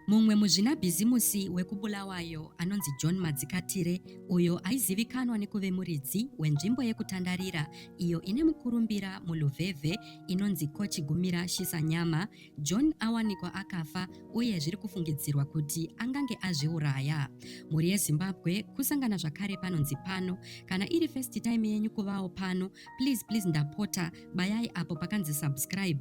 Mumwe muzvinabhizimusi wekuBulawayo anonzi John Madzikatire uyo aizivikanwa nekuve muridzi wenzvimbo yekutandarira iyo ine mukurumbira muLuveve inonzi Kochigumira Shisanyama, John awanikwa akafa uye zviri kufungidzirwa kuti angange azviuraya. Mhuri yeZimbabwe kusangana zvakare panonzi pano. Kana iri first time yenyu kuvawo pano, please please ndapota bayai apo pakanzi subscribe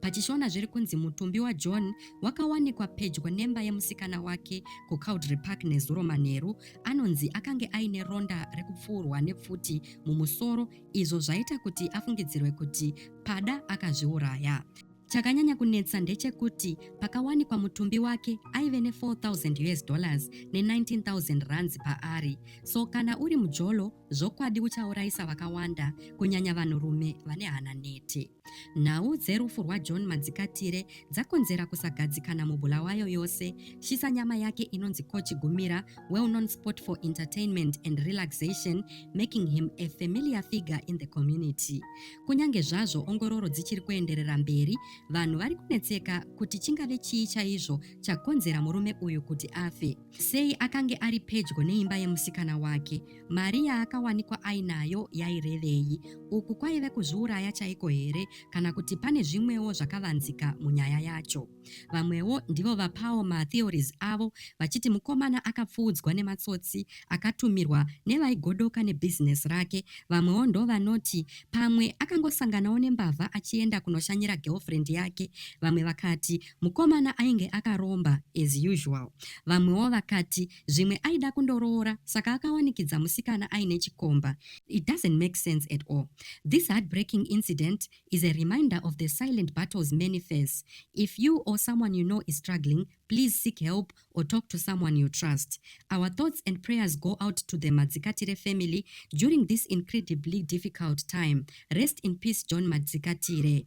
PachiShona zviri kunzi mutumbi waJohn wakawanikwa pedyo nemba yemusikana wake kuCowdray Park nezuro manheru anonzi akange aine ronda rekupfuurwa nepfuti mumusoro izvo zvaita kuti afungidzirwe kuti pada akazviuraya. Chakanyanya kunetsa ndechekuti pakawanikwa mutumbi wake aive ne 4000 us dollars ne 19000 rands paari so kana uri mujolo Zvokwadi uchauraisa vakawanda, kunyanya vanhurume vane hana nete. Nhau dzerufu rwaJohn Madzikatire dzakonzera kusagadzikana muBulawayo yose. Shisa nyama yake inonzi Coach Gumira, well known sport for entertainment and relaxation, making him a familiar figure in the community. Kunyange zvazvo ongororo dzichiri kuenderera mberi, vanhu vari kunetseka kuti chingave chii chaizvo chakonzera murume uyu kuti afe. Sei akange ari pedyo neimba yemusikana wake? Mari yaakawanikwa ainayo yairevei? Uku kwaive kuzviuraya chaiko here kana kuti pane zvimwewo zvakavanzika munyaya yacho? Vamwewo ndivo vapawo matheories avo vachiti mukomana akapfuudzwa nematsotsi akatumirwa nevaigodoka nebusiness rake. Vamwewo ndovanoti pamwe akangosanganawo nembavha achienda kunoshanyira girlfriend yake. Vamwe vakati Mukomana ainge akaromba as usual. Vamwewo vakati zvimwe aida kundoroora saka akawanikidza musikana aine chikomba. It doesn't make sense at all. This heartbreaking incident is a reminder of the silent battles many face. If you or someone you know is struggling, please seek help or talk to someone you trust. Our thoughts and prayers go out to the Madzikatire family during this incredibly difficult time. Rest in peace John Madzikatire.